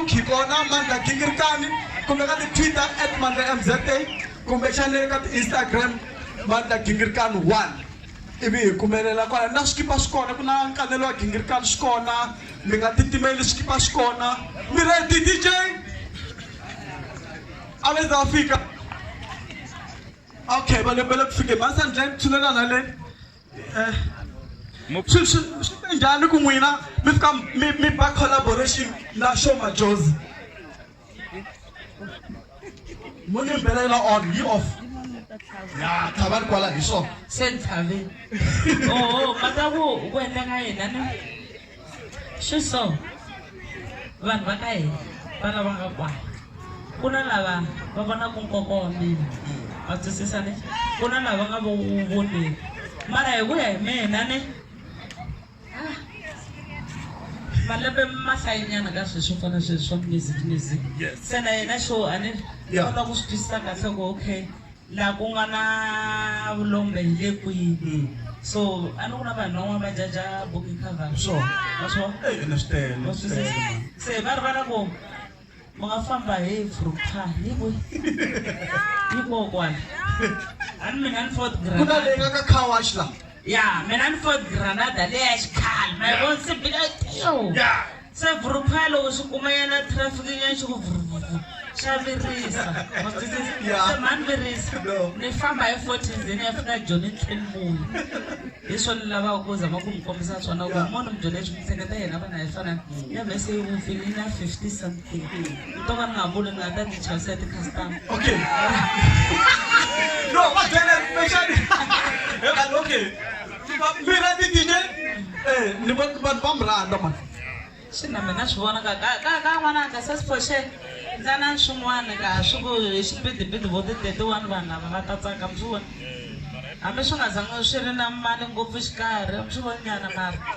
hi kona mandla gingirikani kumbe ka ti-twitter at mandla mza kumbexana le ka ti-instagram mandla gingirikani one ivi hi kumelela kwala na swikipa swi kona ku na nkanelo wa gingirikani swi kona mi nga titimeli swikipa swi kona mi redi dj a le za fika okay va lebele ku fike mansandleni tshulelana leni eh, swi swi swi te njhani ku n'wina mi fika mi mi ba collaboration na show majozi mo ni mbelela on yi off ya tshava ri kwala hi swona se ni tshave oho mhaka ku ku endleka yena na swi so vanhu va ka hina va lava nga kwala ku na lava va vonaka nkoka wa mina va twisisa ne ku na lava nga vo wu voneki mara hi ku ya hi mina ne ah, malembe mahlayinyana ka sweswi swo fana sweswi swa music music se na yena xo a ni kota ku swi twisisa kahle ku okay Laha ku nga na vulombe hi le kwini? So a ni ku na vanhu van'wana va jaja book cover swo ma swo ene swi tele ma swi tele ma se va rivala ku mi nga famba hi fruta hi ku hi kokwana a ni mina ni fourth grade ku na leyi nga ka car wash la Ya, mina ni Ford Granada leyi ya xikhale. Ma yi vona se bika tiyo. Ya. Se vurupha loko swi kuma yana traffic ya xi ku vuruvuru. Xa virisa. Ma swi twisisa? Ya. Se mhani virisa. No. Ni famba hi 40 ndzeni ya fika Joni tlheli munhu. Hi swona ni lavaka ku zama ku mi kombisa swona ku munhu mi byele swi mi hleketa yena vana hi fana. Ya vhese yi vupfile yi na 50 something. to va ni nga vuli ni nga ta ti chavisa ti-customer okay no va byele kumbexani ekani okay mina ti dj eh, ni vanhu va mi rhandza mani swi na mina swi vonaka ka ka ka n'wananga se siphoxe ndza na swin'wana ka swi ku hi xipidipidi vo ti-thirty-one vanhu lava va ta tsaka mi swi vona hambi swi nga zangi swi ri na mali ngopfu xikarhi mi swi voni nyana mara